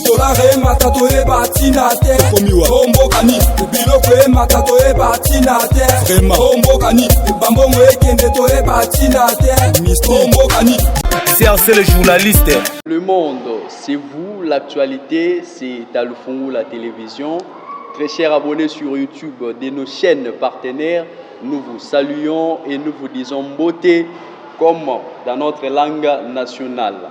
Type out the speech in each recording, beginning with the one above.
dolare emata toyeba ntina te o mboka nini biloko emata toyeba ntina te o mboka nini bambongo ekende toyeba ntina te o mboka nini crc le journaliste le monde c'est vous l'actualité c'est talufungu la télévision très chers abonnés sur youtube de nos chaînes partenaires nous vous saluons et nous vous disons beauté comme dans notre langue nationale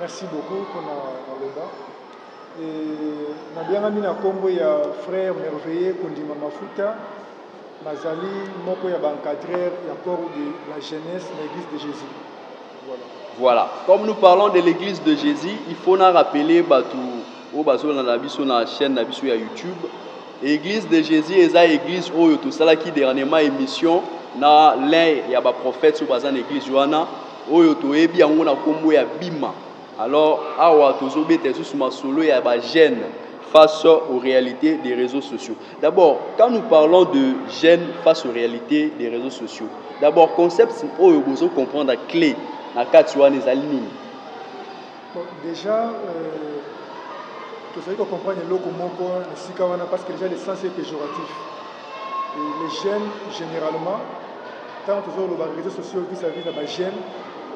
Merci beaucoup pour la maloba. nabiangami na nkombo ya frère merveilleux kondima mafuta nazali moko ya baencadreur ya corps de la jeunesse na église de jésus voilà. voilà comme nous parlons de l'église de jésus il faut na rappeler bato oyo bazolanda biso na chaîne na biso ya YouTube Eglise de Jesus eza eglise oyo tosalaki dernièrement émission na l'un ya ba prophètes oyo baza na eglise wana oyo toyebi yango na kombo ya Bima alors awa tozobeta lisusu masolo ya ba jeunes face aux réalités des réseaux sociaux d'abord quand nous parlons de jeunes face aux réalités des réseaux sociaux d'abord concept oyo bozo comprendre clé na kati wana ezali nini Bon, deja euh, tozali kocomprendre eloko moko na esika wana parce que deja le sens est péjoratif Et les jeunes généralement ntango tozoloba réseaux sociaux vis-à-vis na bajeune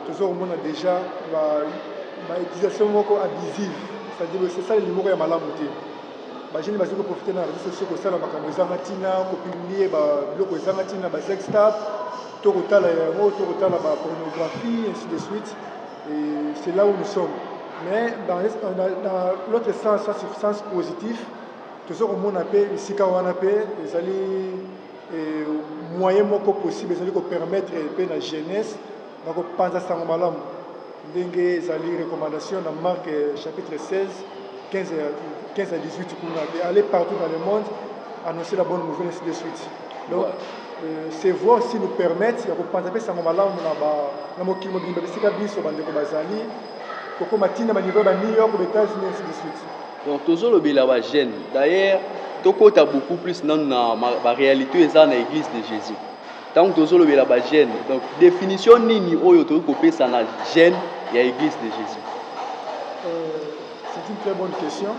tozokomona deja bautilisation ba moko abusive c'est-à-dire c'est ça esalela moko ya malamu te bajeune bazali koprofite na réseaux sociaux kosala makambo ezanga ntina kopublie biloko ezanga ntina basextap to kotala yango to kotala bapornographie ainsi de suite Et c'est là où nous sommes. Mais dans, dans, dans l'autre sens, ça c'est sens positif. toza komona mpe esika wana mpe ezali eh, moyen moko possible ezali kopermettre mpe na jeunesse na kopanza sango malamu ndenge ezali recommandation na marque eh, chapitre 16 15 à 18 kuna mpe aller partout dans le monde annoncer la bonne nouvelle ainsi de suite Donc, euh, se voir aussi nous permettre ya kopanza mpe sango malamu na, ba, na mokili mobimba bisika biso bandeko bazali kokoma ntina banivo ya ba new york ba états-unis ainsi de suite donc tozolobela ba jeune d'ailleurs tokota beaucoup plus nanu na baréalité oyo eza na église de jésus ntango tozolobela ba jeune donc définition nini oyo tokoki kopesa na jeune ya église de jésus euh, c'est une très bonne question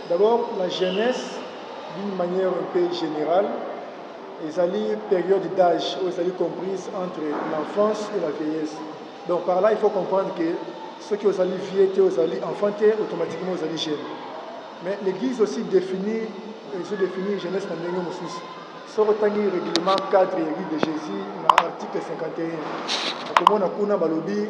D'abord la jeunesse d'une manière un peu generale ezali période d'âge oyo ezali comprise entre l'enfance et la vieillesse donc par là il faut comprendre que soki ozali vieux te ozali enfant te automatiquement ozali jeune mais l'église aussi définit ezo définir jeunesse na ndenge mosusu soki otangi règlement cadre ya église de jésus na article 51 okomona kuna balobi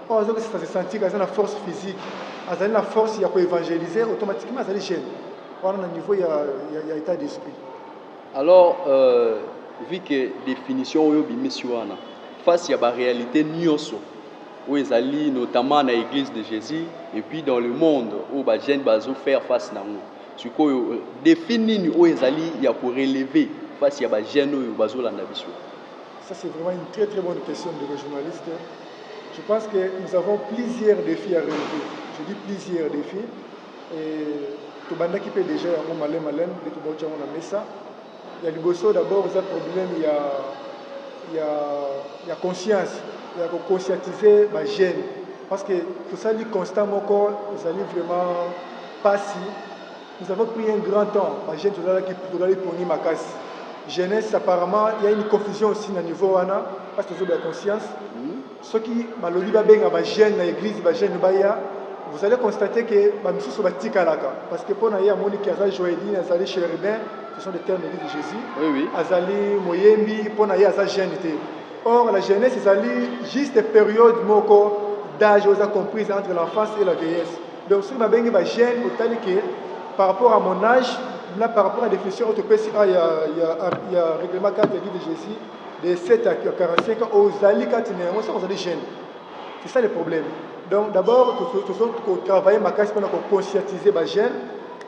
Oyo azo kisa se sentir aza na force physique, azali na force ya ko evangeliser automatiquement azali jeune. Wana na niveau ya ya, ya etat d'esprit. Alors euh, vu que definition oyo bimisi wana face ya ba réalité nioso oyo ezali notamment na église de Jésus et puis dans le monde oyo ba jeunes bazo faire face nango sikoyo euh, défi nini oyo ezali ya ko relever face ya ba jeunes oyo bazolanda biso Ça, c'est vraiment une très très bonne question de le journaliste. Je pense que nous avons plusieurs défis à relever. Je dis plusieurs défis. Et tobandaki mpe déjà yango malem malem nde tobauti yango na mesa ya liboso d'abord eza problème ya, ya, ya conscience ya koconscientiser bagene parce que tosali constat moko ezali vraiment mpasi Nous avons pris un grand temps ba jeunes tolalaki tozali pongi makasi jeunesse apparemment il y a une confusion aussi na niveau wana parce que tozoba conscience soki balobi babenga ba jeunes na église ba jeunes baya vous allez constater que ba misusu batikalaka parce que mpona ye amoni ke aza joeline azali chérubin ce sont des termes de jésus Oui, oui. azali moyembi mpona ye aza jeune te or la jeunesse ezali juste période moko d'âge oyo eza comprise entre l'enfance et la vieillesse Donc soki babengi ba jeune otali ke par rapport à mon âge na par rapport à définition oyo topesi a ya, ya, ya règlement 4 ya de Jésus de 7 à 45 ans ozali kati na yango soki ozali jeune c'est ça le problème donc d'abord tozali kotravaille makasi mpona koconscientiser ba jeune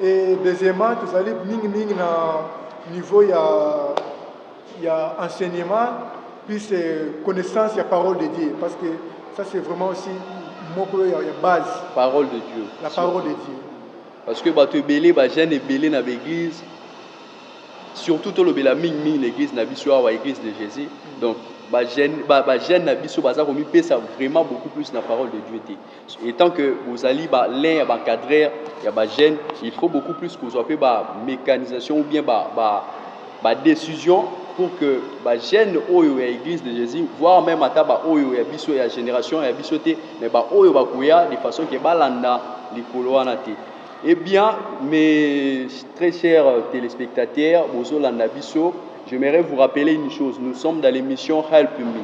et deuxièmement tozali mingimingi na niveau ya ya enseignement plus connaissance ya parole de Dieu parce que ça c'est vraiment aussi moko ya, ya base parole de Dieu la parole de Dieu parce que bato ebele bagene ebele na baeglise surtout tolobela mingimingi na église na biso awa église de jésus donc bagene ba, ba na biso baza komipesa vraiment beaucoup plus na parole de dieu te Etant que bozali ba l'un ya ba cadreur ya ba jeunes, il faut beaucoup plus kozwa pe ba mecanisation ou bien ba ba ba decision pour que ba jeunes oyo ya Eglise de Jésus, voire même ata ba oyo ya biso ya generation ya biso te, mais ba oyo bakoya de façon que balanda likolo wana te. Eh bien, mes très chers téléspectateurs, Bozo Landa Bisso, j'aimerais vous rappeler une chose. Nous sommes dans l'émission Help Me.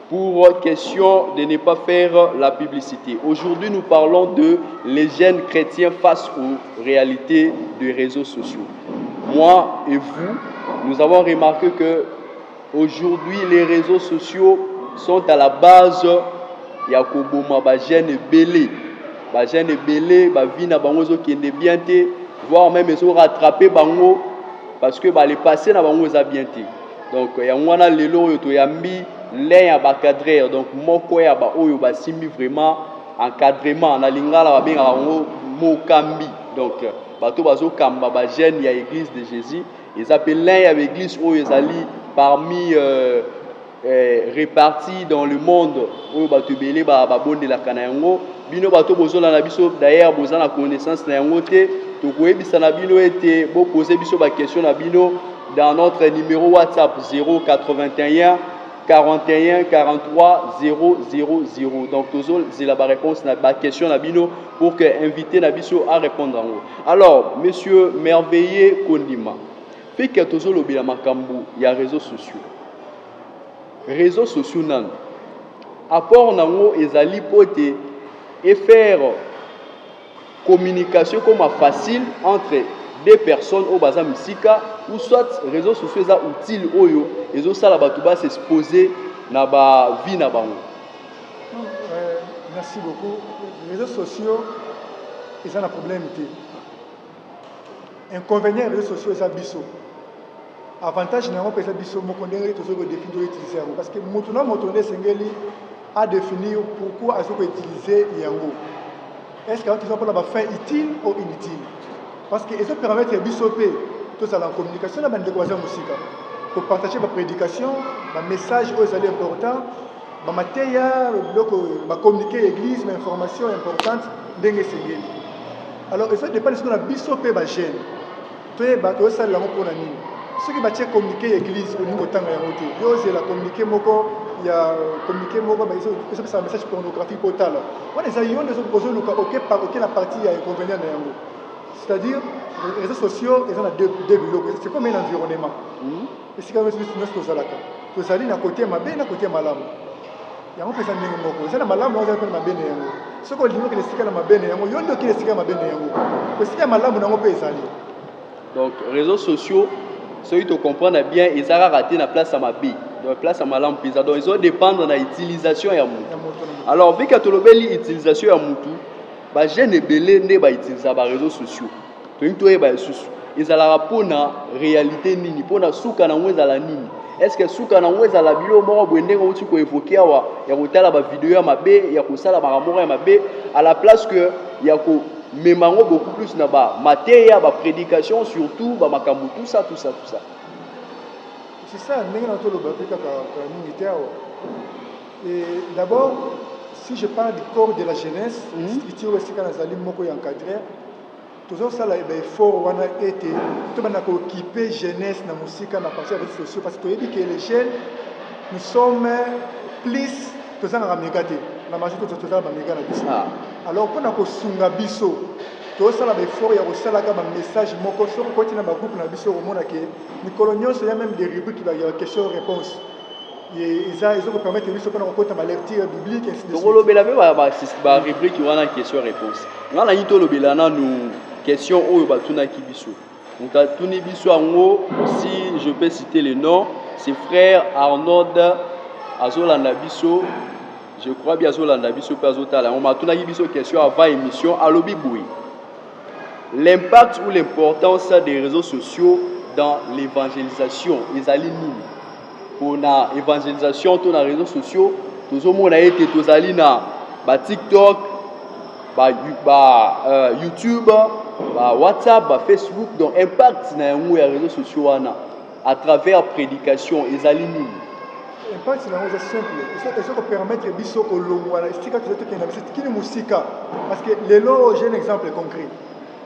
Pour question de ne pas faire la publicité, aujourd'hui nous parlons de les jeunes chrétiens face aux réalités des réseaux sociaux. Moi et vous, nous avons remarqué que aujourd'hui les réseaux sociaux sont à la base ya koboma ba jeunes ebele ba jeunes ebele ba vie na bango ezokende bien te voire même ezo rattraper bango parce que ba le passé na bango eza bien te Donc yango wana lelo oyo toyambi l'un ya ba cadreur donc moko ya ba oyo basimbi vraiment encadrement na lingala babengaka yango mokambi donc bato bazokamba ba jeune ya église de jésus eza mpe l'un ya baeglise oyo ezali parmi euh, eh, réparti dans le monde oyo bato ebele babondelaka na yango bino bato bozola na biso d'ailleurs boza na connaissance na yango te tokoyebisa na bino ete bopoze biso bakestion na bino dans notre numero WhatsApp 081 41 43 000 donc tozozela baréponse na baquestion na bino pour que invité na biso arépondre yango alors monsieur merveilleux kondima pike tozolobela makambo ya réseaux sociaux réseaux sociaux nano apport nango ezali mpo ete efere communication ekoma facile entre deux personnes oyo baza misika ou soit réseaux sociaux eza utile oyo ezosala bato ba s'exposer na ba vie na bango euh, merci beaucoup réseaux sociaux eza na problème te Inconvenient ya reseaux sociaux eza biso. Avantage na yango mpe eza biso moko ndenge tozo ko définir to utiliser yango parce que moto na moto nde esengeli a définir pourquoi azo ko utiliser yango. Est-ce que azo pona ba fin utile ou inutile? Parce que ezo permettre biso mpe tozala en communication na bandeko baza mosika. Ko partager ba prédications, ba messages oyo ezali important ba mateya biloko ba communiquer église ba information importante ndenge esengeli alors eza dépendre sikoyo na biso mpe ba jeune toyeba tozosalela yango mpo na nini soki batie communiquer ya église olingi kotanga yango te yo ozela communiquer moko ya communiquer moko ezopesa message pornographique mpo otala wana eza yo nde ozoluka oke na partie ya inconvénient na yango c'est-à-dire réseaux sociaux eza na deux biloko c'est comme un environnement hmm? Esika nyonso biso nyonso tozalaka, tozali na kote ya mabe na kote ya malamu. Yango mpeza ndenge moko, eza na malamu yango, eza mpe na mabe na yango. Soki olingi okende esika na mabe na yango, yo nde okende esika ya mabe na yango, po esika ya malamu na yango mpe ezali. Donc réseaux sociaux soki tocomprendre bien eza kaka te na place ya mabe donc place ya malamu mpenza donc ezo dépendre na utilisation ya motu alors vika tolobeli utilisation ya motu bajeune ebele nde bautiliza bareseau sociaux tolingi toyeba lisusu ezalaka mpo na réalité nini mpo na suka na yango ezala nini eske suka na yango ezala biloko moko boye ndenge outi koevoke awa ya kotala bavideo ya mabe ya kosala makambo moko ya mabe à la place que ya komema yango beaucoup plus na bamateya baprédication surtout bamakambo tout ça tout ça tout ça c'est ça ndenge na tolobaki kaka mingi te awa Et d'abord, si je parle du corps de la jeunesse, mm -hmm. structure esika nazali moko ya encadrer, tozosala eh baeffort wana ete tobanda kookipe jeunesse na mosika na parti ya réseaux sociaux parce que toyebi ke les jeunes nous sommes plus tozangaka mega te na majo tozala bamega na biso ah. alors mpo na kosunga biso tosala baeffort ya kosalaka bamessage moko soki okoti na bagroupe na biso okomona ke mikolo nyonso ya meme des rubrique ya question réponse eza ezo kopermettre biso mpona kokota balecture biblique ainsi de tokolobela mpe barubrike wana question réponse ngai nayi tolobela nanu question oyo batunaki biso moto atuni biso yango si je peux citer le nom c'est frère arnold azolanda biso je crois bien azolanda biso mpe azotala yango ma atunaki biso question avant émission alobi boye L'impact ou l'importance des reseaux sociaux dans l'evangelisation ezali nini? Pona evangelisation to na reseaux sociaux tozomona ete tozali na ba TikTok, ba, ba uh, YouTube, ba WhatsApp, ba Facebook. Donc impact na yango ya reseaux sociaux wana à travers prédication ezali nini impakti na yango eza simple eza kopermettre biso kolongwa na esika toza tokenda biso kini mosika parce que lelo j'ai un exemple concret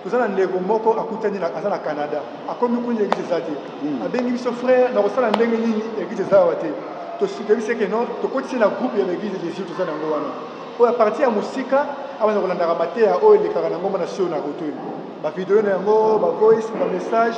toza na ndeko moko akutani aza na canada akomi kuni église eza te hmm. abengi biso frère na kosala ndenge nini église eza awa te toyebisi eke non tokotisi na groupe ya baeglise ya jésus toza na yango wana oyo apartir ya mosika abanda kolandaka mateya oyo elekaka na ngomba na sio na kotoyo bavideo na yango bavoice bamessage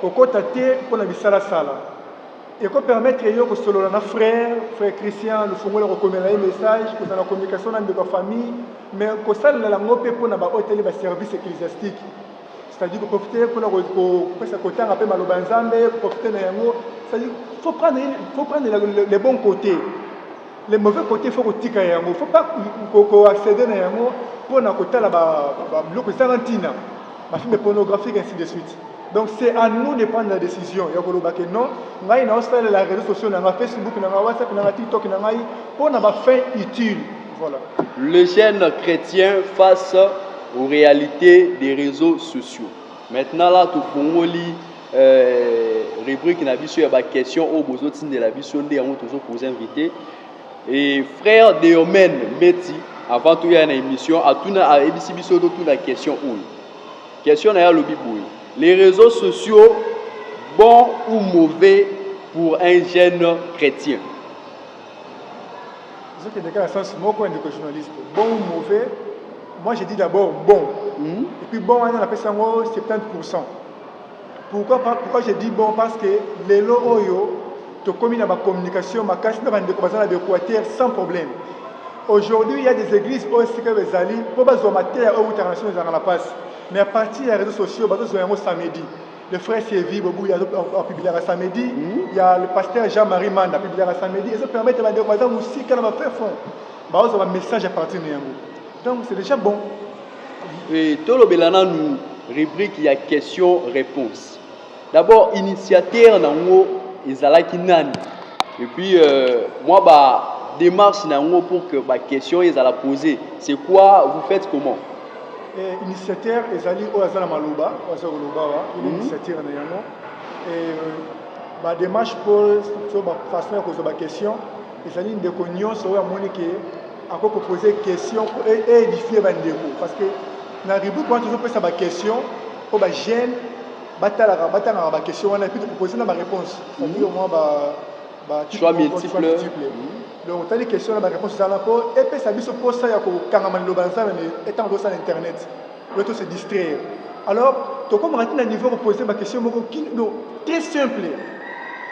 Kokota te mpo na bisala sala. Eko permettre yo kosolola na frère, frère Christian, lofungola kokomela ye message, kozala na communication na ndeko ya famille, mais kosalela yango mpe mpo na ba oyo etali ba service ecclesiastique. C'est-à-dire ko profiter mpo na kopesa kotanga mpe maloba ya Nzambe, ko profiter na yango. C'est-à-dire faut prendre faut prendre le bon côté. les mauvais côtés faut kotika yango faut pas ko accéder na yango mpo na kotala biloko ezanga ntina bafilme pornographique ainsi de suite donc c'est à nous de prendre la décision ya koloba ke non ngai naosalela réseau sociaux na ngai facebook na ngai whatsapp na ngai tiktok na ngai mpo na bafin utile voilà le jeune chrétien face aux réalités des réseaux sociaux maintenant là tofungoli Euh, rubrique na biso ya ba question oyo bozo tindela biso nde yango tozo pose invité et frère Deomen Mbeti avant tout ya na émission atuna ayebisi biso to tuna question oyo question na ya lobi boye les réseaux sociaux bon ou mauvais pour un jeune chrétien ce qui est le sens moko ndeko journaliste bon ou mauvais moi je dis d'abord bon mm -hmm. et puis bon on a appelé ça 70% Pourquoi, pourquoi je dis bon parce que lelo oyo tokomi na ba communication makasi na bandeko baza na b'equateur sans problème aujourd'hui il y a des églises oyo esika oyo ezali mpo bazwa mateya oyo utaka na soni ezalaka na mpasi mais à partir ya réseaux sociaux bazozwa yango samedi le frère Sévi Bobuya apubliaka samedi hmm? ya le pasteur Jean-Marie Manda apubliaka samedi ezo permettre bandeko baza mosika na ba fin fond bazwa ba message à partir na yango donc c'est déjà bon E, tolobela nanu rubrique ya question réponse d'abord initiateur na yango ezalaki nani et puis euh, moi ba démarche na yango pour que ba question ezala posée c'est quoi vous faites comment eh, initiateur ezali oyo aza na maloba oyo aza koloba wa mhm. initiateur na yango eh, ba démarche mpo to ba façon ya kozwa ba question Ezali ndeko nyonso oyo amoni ke akoki kopose question po e, edifie bandeko parce que na rubrique wana tozopesa baquestion mpo bajeune batalaka batangaka baquestion wana epuis topropose na baréponse cetadire mwa bachoix multiple donc otali question na baréponse ezala mpo epesa biso mposa ya kokangama liloba na nzambe ntango tozosala internet mais to se distraire alors tokomaka ti na niveau ya kopose baquestion moko kido très simple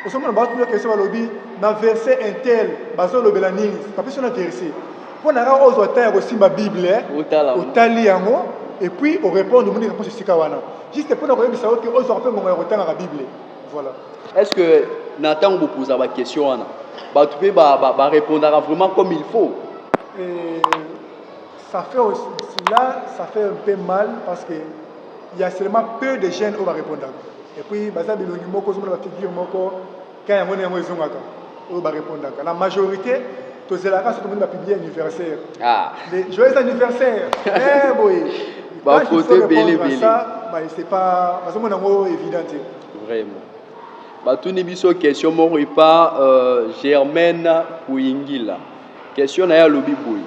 osomona baotuna question balobi na verset intel bazolobela nini bapesi na verset mpo na kaka ozwa temps ya kosimba bible eh, otali yango et puis orépondre omoni réponse esika wana juste mpo na koyebisa yo te ozwaka mpe ngongo ya kotangaka bible voilà est ce que na ntango bopoza baquestion wana bato mpe barépondaka vraiment comme il faut euh, Ça fait aussi, là, ça fait un peu mal parce que il y a seulement peu de jeunes oyo barepondaka et puis baza bilongi moko ozomona bafigure moko ka yango na yango ezongaka oyo barepondaka na majorité tozelaka soki tomoni bapiblie anniversaire ah. joyeux anniversaire eh, boye bafoto ebele ebele c'est pas bazomona yango évident te vraiment batuni biso question moko epa euh, germaine kuyingila question na ye alobi boye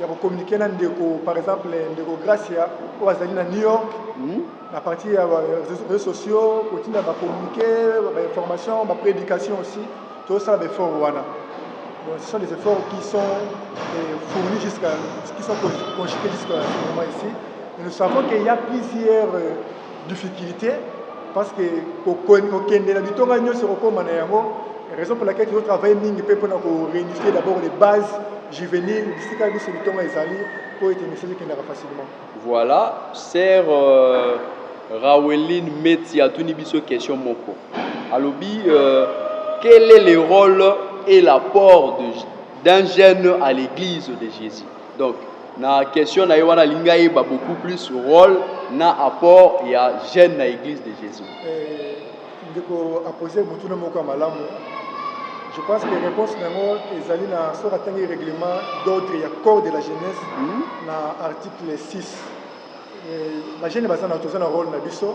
ya ko communiquer na ndeko par exemple ndeko Gracia oyo azali na New York hmm? na partir ya réseaux sociaux kotinda ba communiquer ba information ba prédication aussi tosala ba effort wana bon, ce sont des efforts qui sont euh, fournis jusqu'à qui sont conjugués jusqu'à ce moment ici et nous savons qu'il y a plusieurs euh, difficulté parce que kokende na bitonga nyonso kokoma na yango raison pour laquelle tozo travaille mingi mpe mpona ko réunifier d'abord les bases juvénile bisika biso bitonga ezali mpo ete message ekendaka facilement voilà ser euh, raweline meti atuni biso question moko alobi euh, quel est le rôle et l'apport d'un jeune à l'église de jésus Donc na question na ye wana alingi ayeba beaucoup plus role na apport ya jeune na eglise de Jésus. Eh, ndeko apose motuna moko ya malamu je pense que réponse na yango ezali na soki atangi règlement d'ordre ya corps de la jeunesse mm -hmm. na article 6 eh, bagene baza na toza na rôle na biso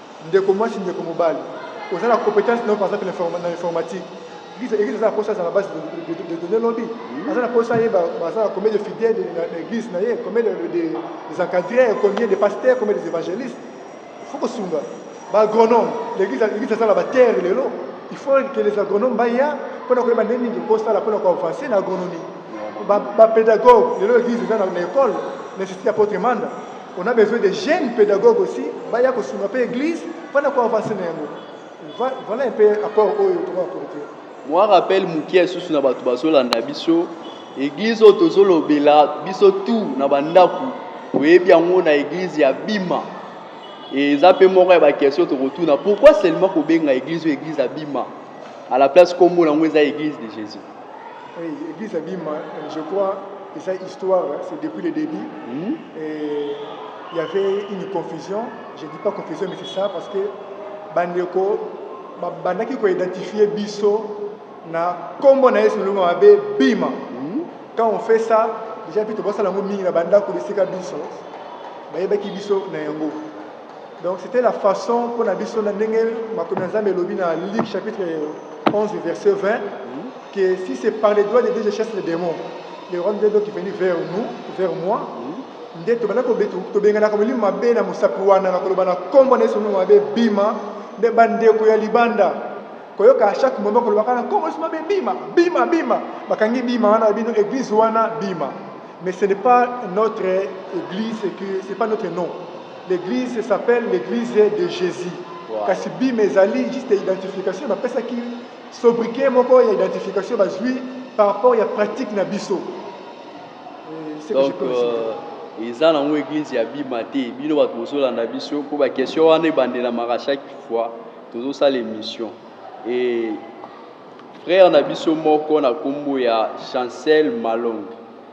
Ndeko muasi ndeko mobali oza na competence nao par exemple na informa- na informatique Eglise eglise aza na posa azala na base de, de, de, de donner lobi aza na posa ayeba baza na combien de fidèles de- na na eglise na ye combien de, de, des encadreurs combien de pasteurs combien des évangélistes faut kosunga ba agronome l'église l'église aza na ba terre lelo il faut que les agronomes baya mpo na koyeba ndenge nini kosala mpo na koavancer na agronomie ba, ba pédagogue lelo église eza na, na école na institut ya potre manda On a besoin des jeunes pédagogues aussi, baya ko sunga pe église, pona ko avancer na yango. Voilà un peu apport oyo to va porter. Moi rappel mukie susu na batu bazolanda biso église oyo tozolobela biso tout na bandako oyebi yango na église ya bima eza mpe moko ya bakestion tokotuna pourquoi seulement kobenga église oyo église ya bima à la place nkombo na yango eza église de jésus Oui, église abima, euh, je crois, et ça histoire, c'est depuis le début. Mm -hmm. Et il y avait une confusion. Je ne dis pas confusion, mais c'est ça parce que bandeko bandaki ko identifier biso na kombo na Yesu Lunga mabe bima. Mhm. Quand on fait ça, déjà puis tobosala ngo mingi na bandako bisika biso. Bayebaki biso na yango. Donc c'était la façon pour biso na ndenge makomi ya Nzambe elobi na Luc chapitre 11 verset 20 que si c'est par les doigts de Dieu je chasse les démons les rois de Dieu qui viennent vers nous vers moi nde tobanda tobenganaka molimo mabe na mosapi wana na koloba na nkombo na yesu molimo mabe bima nde bandeko ya libanda koyoka chaque moment kolobaka na nkombo yesu mabe bima bima bima bakangi bima wana bino église wana bima mais ce n'est pas notre église que c'est pas notre nom L'eglise s'appelle l'eglise de Jesus. Wow. Kasi bima ezali juste identification bapesaki sobriquet moko ya identification bazwi par rapport ya pratique na biso. Euh, Donc, euh, eza nango eglise ya bima te bino bato bozolanda biso mpo baquestion wana ebandelamaka chaque fois tozosala émission e frère na biso moko na nkombo ya chancel malonge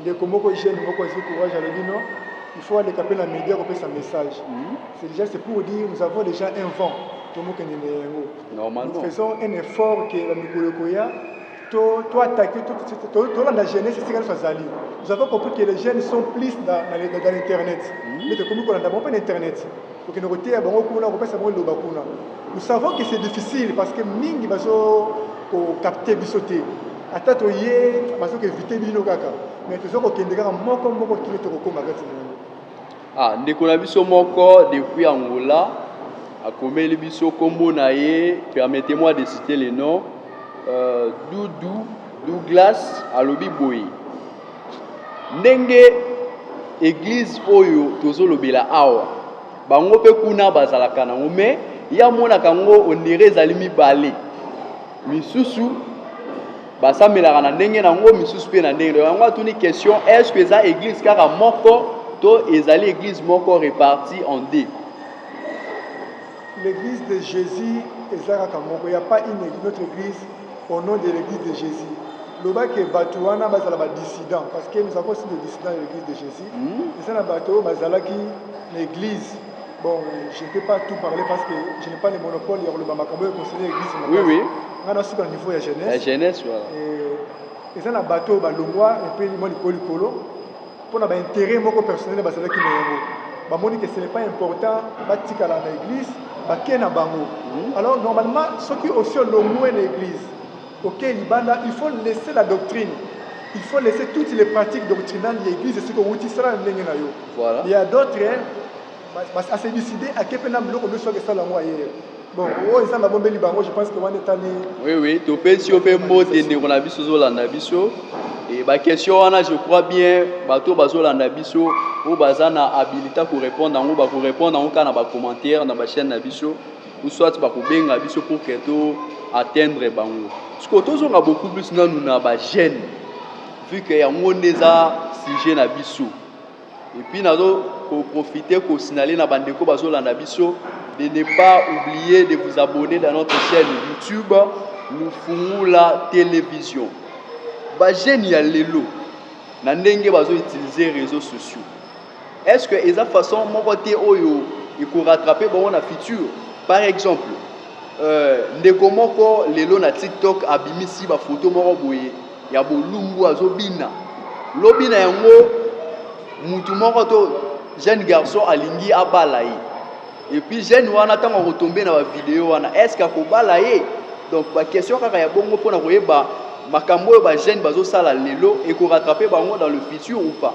ndeko moko jeune moko azwi courage alobi non il faut aleka mpe na média kopesa message mhm. c'est déjà c'est pour dire nous avons déjà un vent tomokende na yango nous faisons un effort ke bamikolo ekoya toattaque tolanda jeunesse esika nyonso azali nous avons compris que les jeunes sont plus dans l'internet mhm. mais tokomi kolanda bango mpe na internet kokende koteya bango kuna kopesa bango eloba kuna nous savons que c'est difficile parce que mingi bazo kokapte biso te Ata toye bazo ko eviter bino kaka mais tozo ko kende kaka moko moko kino tokokoma kati na yango. Ah, ndeko na biso moko depuis Angola akomeli biso kombo na ye, permettez-moi de citer le nom euh, Doudou Douglas alobi boye ndenge eglise oyo tozolobela awa bango mpe kuna bazalaka nango mais ye amonaka yango onere ezali mibale misusu basambelaka na ndenge na yango misusu mpe na ndenge na yango atuni question est ce que eza église kaka moko to ezali église moko reparti en deux l'église de jésus eza kaka moko ya pas une notre église au nom de l'église de jésus loba ke bato wana bazala badissident parce que nous avons aussi des dissidents de l'église de jésus hmm. eza na bato oyo bazalaki na église Bon, je ne peux pas tout parler parce que je n'ai pas le monopole ya koloba makambo ya conseiller église makasi. Oui, oui. Nga na suka niveau ya jeunesse. La jeunesse, voilà. Et eza na bato oyo balongwa epe mwa likolo likolo mpo na baintérêt moko personnel bazalaki na yango bamoni que ce n'est pas important batikala na église bake na bango mhm. alors normalement soki osi olongwe na église Ok libanda il faut laisser la doctrine il faut laisser toutes les pratiques doctrinales ya eglise esika owuti sala na ndenge na yo voilà. ya d'autres ase décide ake mpe na biloko ndoso ake sala yango aye bon oyo eza na bombeli bango je pense que wana etali oui oui topesi yo mpe mbote ndeko na biso ozolanda biso e baquestion wana je crois bien bato oyo bazolanda biso oyo baza na habilita korépondre yango bakorépondre yango kaka na bacommentaire na bachaîne na biso ou soit bakobenga biso pour que to atteindre bango sikoyo tozonga beaucoup plus nanu na bagene vu que yango nde eza sujet na biso epuis nazo koprofite kosignale na bandeko bazolanda biso de ne pas oublier de vous abonner dans notre chaîne youtube lufungula television bagene ya lelo na ndenge bazo utiliser réseaux sociaux Est-ce que eza façon moko te oyo eko rattraper bango na futur? Par exemple, euh, ndeko moko lelo na TikTok abimisi ba photo moko boye ya bolumbu azobina. Lobi na yango mutu moko to jeune garçon alingi abala ye. Et puis jeune wana tango akotombe na ba video wana, est-ce que akobala ye? Donc ba question kaka ya bongo pona koyeba makambo oyo ba jeunes bazosala lelo eko rattraper bango dans le futur ou pas?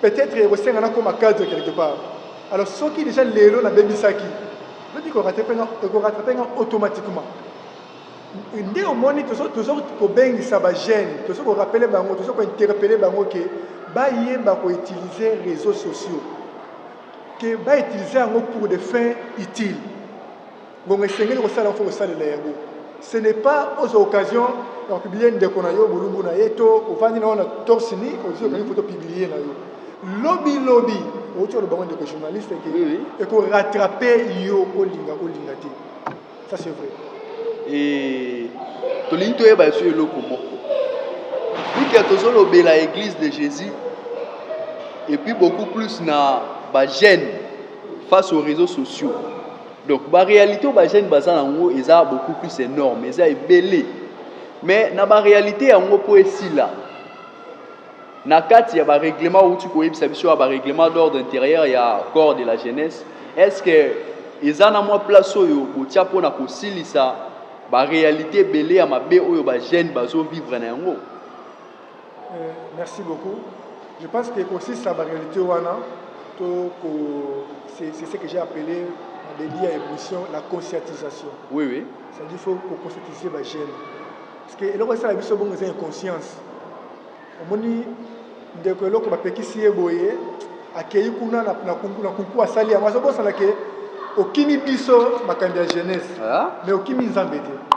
Peut etre ekosenga na koma cadre quelque part. Alors soki deja lelo na bebisaki, lobi ko rattraper nga, ko rattraper nga automatiquement. Nde omoni tozo tozo kobengisa ba jeunes, tozo ko rappeler bango, tozo ko interpeller bango que bayeba ko utiliser réseaux sociaux. Que ba utiliser yango pour des fins utiles. Bongo esengeli kosala faut kosalela yango. Ce n'est pas aux occasions ya publier ndeko na yo bolumbu na ye to ovandi na yo na torse ni ozwi okangi foto publier na yo lobi lobi outi olobango ndeko journaliste ke Oui, oui. eko rattraper yo olinga olinga te ça c'est vrai Eh, tolingi toyeba biso eloko moko bika tozolobela église de jésus et puis beaucoup plus na bagène face aux réseaux sociaux Donc ba realite ba jeune baza nango eza beaucoup plus énorme, eza ebele. Mais na ba realite yango po esila na kati ya ba règlement outi koyebisa biso ya ba règlement d'ordre intérieur ya corps de la jeunesse, est-ce que eza na mwa place oyo botia mpo na kosilisa ba realite ebele ya mabe oyo ba jeune bazo vivre na yango? Euh, merci beaucoup. Je pense que consiste à la réalité wana, c'est ce que j'ai appelé en début à émission la conscientisation. Oui, oui. Ça dit faut qu'on conscientise les jeunes. Parce que eloko ça la biso bongo c'est inconscience. Omoni ndeko eloko bapekisi ye boye akei kuna na kunku asali yango azobosana ke okimi biso makambo ya jeunesse ah. mais okimi nzambe te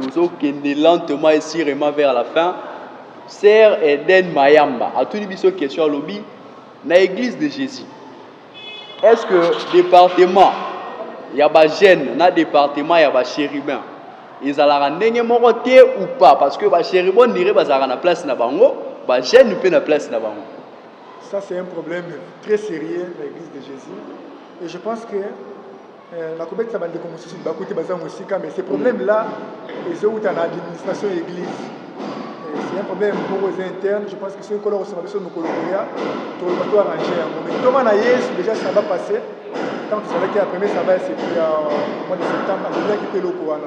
Tozo kende lentement et surement vers la fin. Sœur Eden Mayamba atuni biso question alobi na Eglise de Jésus. Est-ce que département ya ba jeunes na département ya ba chérubins ezalaka ndenge moko te ou pas parce que ba chérubins nire bazalaka na place na bango, ba jeunes mpe na place na bango. Ça c'est un problème très sérieux na Eglise de Jésus et je pense que Euh, nakobetisa bandeko mosusu libaku te baza mosika mais ce problème là ezowuta na administration ya église euh, c'est un problème moko eza interne je pense que soki kolo kosanga biso mokolo koya toloba to arrange yango mais ntoma na yesu déjà ça va passer ntango tozalaki ya premier saba ya mois de septembre azalaki mpe eloko wana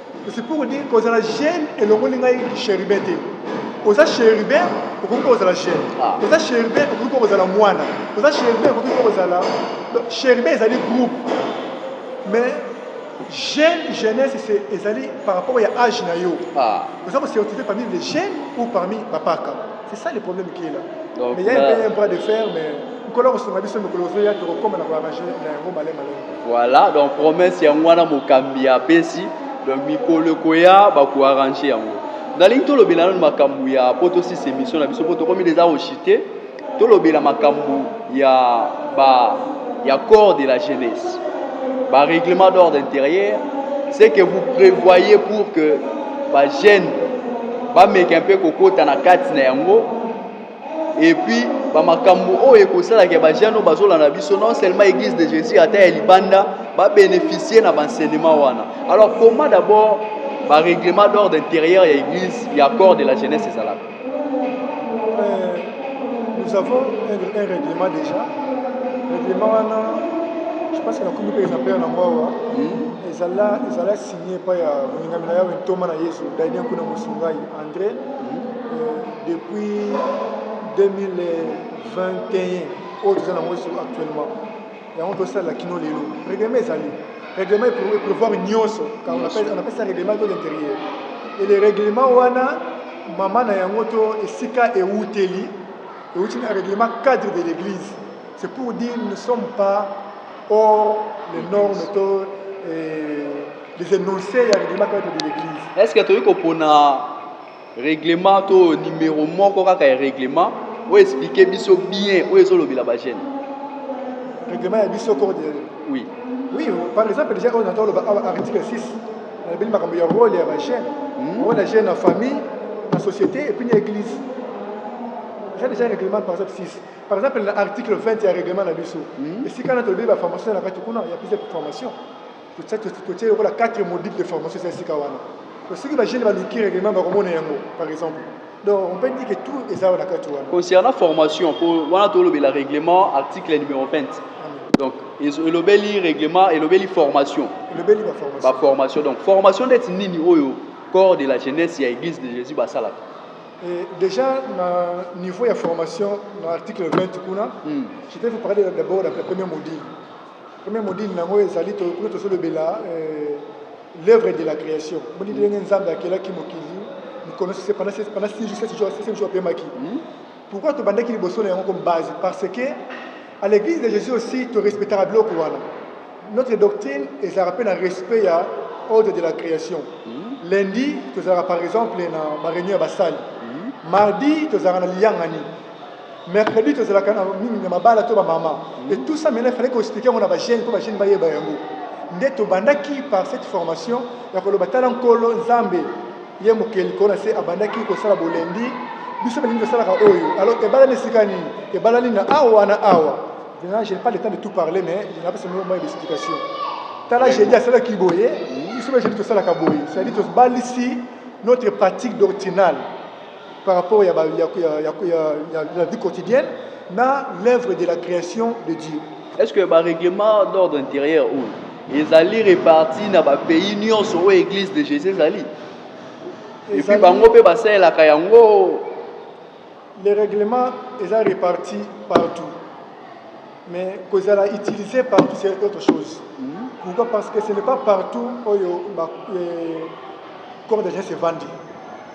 C'est pour dire que ozala jeune elongoli ngai chérubin te oza chérubin okoki mpe kozala jeune ah. oza chérubin okoki mpe kozala mwana oza chérubin okoki mpe kozala chérubin ezali groupe mais jeune jeunesse ezali par rapport ya âge na yo ah. oza kocertifie parmi les jeunes ou parmi bapaka C'est ça le problème qui est là. Donc, mais il y a là... un peu un bras de fer, mais nkolo akosunga biso mikolo ozoya tokokoma na koyamaje na yango male male voilà donc promesse yango wana mokambi apesi donc mikolo ekoya bakoarrange yango nalingi tolobela nano makambo ya mpo tosisa émission na biso mpo tokomi deja kochite tolobela makambo ya ba ya corps de la jeunesse ba règlement d'ordre intérieur ce que vous prévoyez pour que ba jeune bameka mpe kokota na kati na yango epuis bamakambo oyo ekosalaka bajeune oyo bazolanda biso non seulement église de jésus ata ya libanda babénéficie na baenseignement wana alors comment d'abord barèglement d'ordre intérieur ya église ya corps de la jeunesse ezalaka nous avons un, un règlement déjà règlement wana je pense que nakomi mpe ezambe na mwa awa ezala ezala signe epai ya molingami na yawe ntoma na yesu daidien kuna mosungai andré euh, depuis 2021 oyo toza nango actuellement yango tosalela kino lelo règlement ezali règlement eprévoir nyonso car on appelle ça règlement de l'intérieur et le règlement wana mama na yango to esika ewuteli ewuti na règlement cadre de l'église c'est pour dire nous ne sommes pas hors les normes to eh, les énoncés ya règlement cadre de l'église est ce que toyei kopona Reglement to numero moko kaka ya reglement o expliquer biso bien o ezo lobela ba jeunes. Reglement ya biso code ya Oui. Oui, par exemple déjà on entend le article 6. On a bien makambo ya rôle ya ba jeunes. Hmm. Rôle ya jeune na famille, na société et puis na église. J'ai déjà règlement par exemple 6. Par exemple l'article 20 ya règlement na biso. Hmm. Esika na tolobi ba formation na kati kuna ya plus de formation. totie lokola 4 module de formation eza esika wana soki bagene baluki règlement bakomona yango par exemple donc on peut dire que tout eza na kati wana concernant formation po wana tolobela règlement article numéro 20 donc elobeli règlement elobeli formation elobeli baformation donc formation ndeti nini oyo corps de la jeunesse ya église de jésus basalaka Et déjà, na niveau de formation, dans l'article 20, kuna, mm. je vais vous parler d'abord de la première module. Premier module nango ezali tokoki tosolobela euh, l'œuvre de la création moni ndenge nzambe akelaki mokili mikolo pendant six jours sept jours septième jour apemaki hmm? pourquoi tobandaki liboso na yango comme base parce que à l'église de jésus aussi torespectaka biloko wana notre doctrine ezalaka mpe na respect ya ordre de la création hmm? lundi tozalaka par exemple na baréunion ya basali hmm? mardi tozalaka na liyangani mercredi tozalaka na mingi na mabala to bamama et tout ça maintenant fallait koexplike yango na bajeune mpo bajeune bayeba yango nde tobandaki par cette formation ya koloba tala nkolo nzambe ye mokeli koo na se abandaki kosala bolendi biso balingi tosalaka oyo alors ebalani esika nini ebalani na awa na awa maintenant je n'ai pas le temps de tout parler mais je napesa moko moya d'explication tala jeudi asalaki boye biso ba jeudi tosalaka boye c'est-à-dire tobalisi notre pratique doctrinale par rapport ya, ya, ya, ya, ya, ya la vie quotidienne na l'œuvre de la création de Dieu. Est-ce que ba règlement d'ordre intérieur ou ezali reparti na ba pays nyonso oyo église de Jésus ezali? Et puis bango pe basalelaka yango les règlements eza reparti partout mais kozala utilisé partout c'est autre chose mm -hmm. pourquoi parce que ce n'est pas partout oyo ba, eh, corps de geste evandi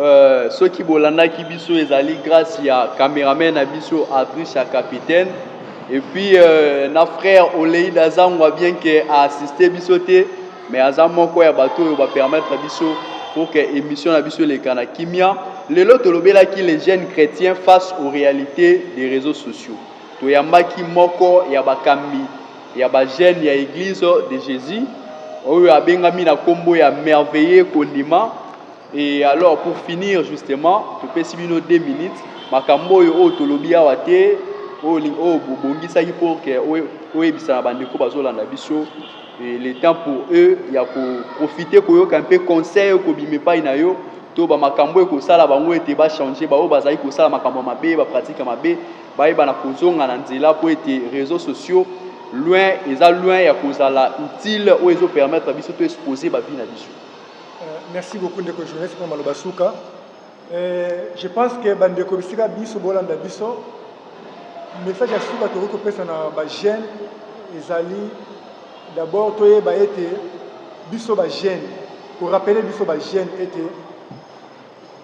Euh, soki bolandaki biso ezali grâce ya cameraman na biso Adricha Capitaine et puis euh, na frère Oleida Zangwa bien que a assister biso te mais aza moko ya bato oyo ba permettre biso pour que émission na biso eleka na kimia lelo tolobelaki les jeunes chrétiens face aux réalités des réseaux sociaux toyambaki moko ya bakambi ya bajene ya eglise de jésus oyo abengami na nkombo ya merveille kondima Et alors pour finir justement, topesi bino 2 minutes makambo oyo oyo tolobi awa te oyo oyo bobongisaki pour que oyebisa na bandeko bazolanda biso et le temps pour eux ya koprofite koyoka mpe conseil oyo kobima epai na yo to bamakambo oyo ekosala bango ete bachange baoyo bazali kosala makambo ya mabe bapratike ya mabe bayeba na kozonga na nzela mpo ete réseaux sociaux loin eza loin ya kozala utile oyo ezopermettre biso to expose bavi na biso Merci beaucoup ndeko journaliste mpo maloba suka je pense que bandeko bisika biso bolanda biso message ya suka tokoki kopesa na bajeune ezali d'abord toyeba ete biso bajeune korapele biso bajeune ete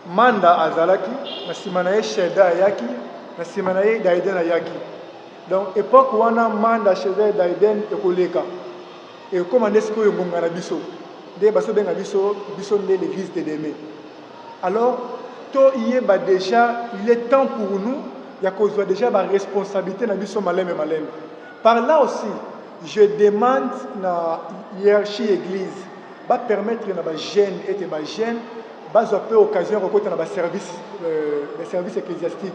manda azalaki na nsima na ye shelda ayaki na nsima na ye daiden ayaki donc epoque wana manda shelda daiden ekoleka Ekokoma nde sikoyo ngonga na biso nde baso benga biso biso nde l'eglise de demain alors to yeba dejà il est temps pour nous ya kozwa dejà ba responsabilité na biso malembe malembe par là aussi je demande na hiérarchie église ba permettre na ba jeunes et ba jeunes bazwa pe occasion ya kokota na ba service euh, service ecclésiastique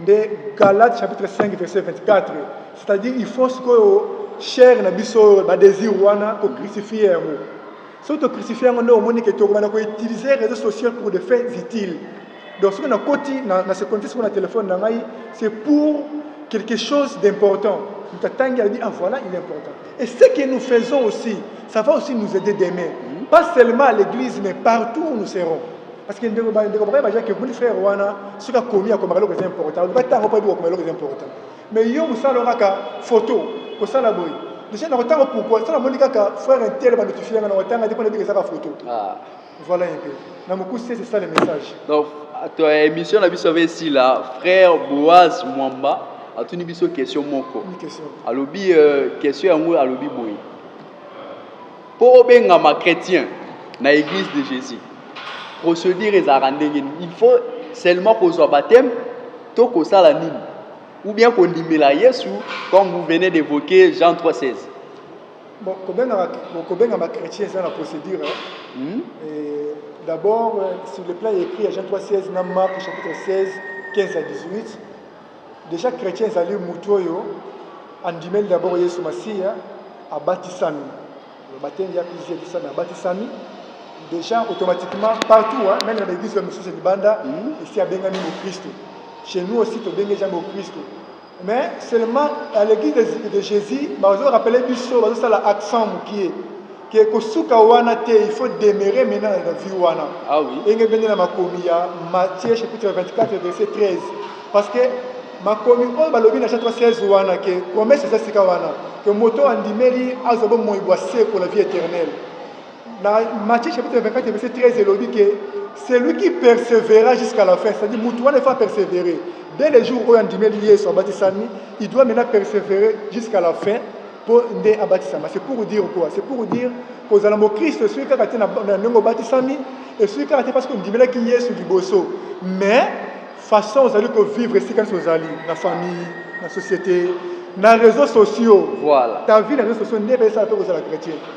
nde Galates chapitre 5 verset 24 c'est-à-dire il faut sikoyo chair na biso oyo badésir wana tocrucifie yango soki tocrucifie yango nde omoni ke tokobanda koutiliser réseau social pour des faits utiles donc soki nakoti na, na se connecte sikoyo na telefone na ngai c'est pour quelque chose d'important moto atangi alobi ah voilà il est important Et ce que nous faisons aussi, ça va aussi nous aider demain. Mm. Pas seulement à l'église, mais partout où nous serons. Parce que ndeko ba ndeko ba baje que mon frère wana suka komi akoma kaloko c'est important. Ba tango pa biko kaloko c'est important. Mais yo musala kaka photo ko sala boy. Déjà na kotanga pourquoi sala moni kaka frère intel ba notifier na kotanga diko na biko saka photo. Ah. Voilà un peu. Na mokuse c'est ça le message. Donc to émission na biso avec sila frère Boaz Mwamba atuni biso question moko. Une question. Alobi euh, question yango alobi boye. Po benga ma chrétien na église de Jésus. Procédure ezalaka ndenge nini? Il faut seulement kozwa baptême to kosala nini? Ou bien kondimela Yesu comme vous venez d'évoquer Jean 3:16. Bon, kobengama kobengama chrétien eza na procédure hmm? Et d'abord sur le plan écrit ya Jean 3 16 na Marc chapitre 16 15 à 18 déjà chrétien ezali motu oyo andimeli d'abord Yesu Masiya abatisami batenge ya pisi ebisami abatisami déjà automatiquement partout hein, même na baeglise ya mosusu libanda hmm? esi abengami mokristo chez nous aussi tobengi eza mokristo Mais seulement à l'église de, de Jésus bazo rappeler biso bazo sala accent mukie que kosuka wana te il faut demeurer maintenant na vie wana Ah oui. enge bende na makomi ya Matthieu chapitre 24 verset 13 parce que makomi oyo balobi na chapitre 16 wana que promesse eza sika wana que moto oyo andimeli azwa bomoi bwa seko la vie éternelle Na Matthieu chapitre 24 verset 13 elobi ke celui qui persevera jusqu'à la fin, c'est-à-dire mutu wana efa perseverer dès le jour oyo andimeli Yesu abatisami, il doit maintenant perseverer jusqu'à la fin mpo nde abatisama. C'est pour dire quoi? C'est pour dire kozala mokristo esuki kaka te na ndenge obatisami, esuki kaka te parce que ondimelaki Yesu liboso, mais façon ozali kovivre esika nyonso ozali na famille, na société, na réseaux sociaux. Voilà. Ta vie na réseaux sociaux nde epesaka mpe kozala chrétien.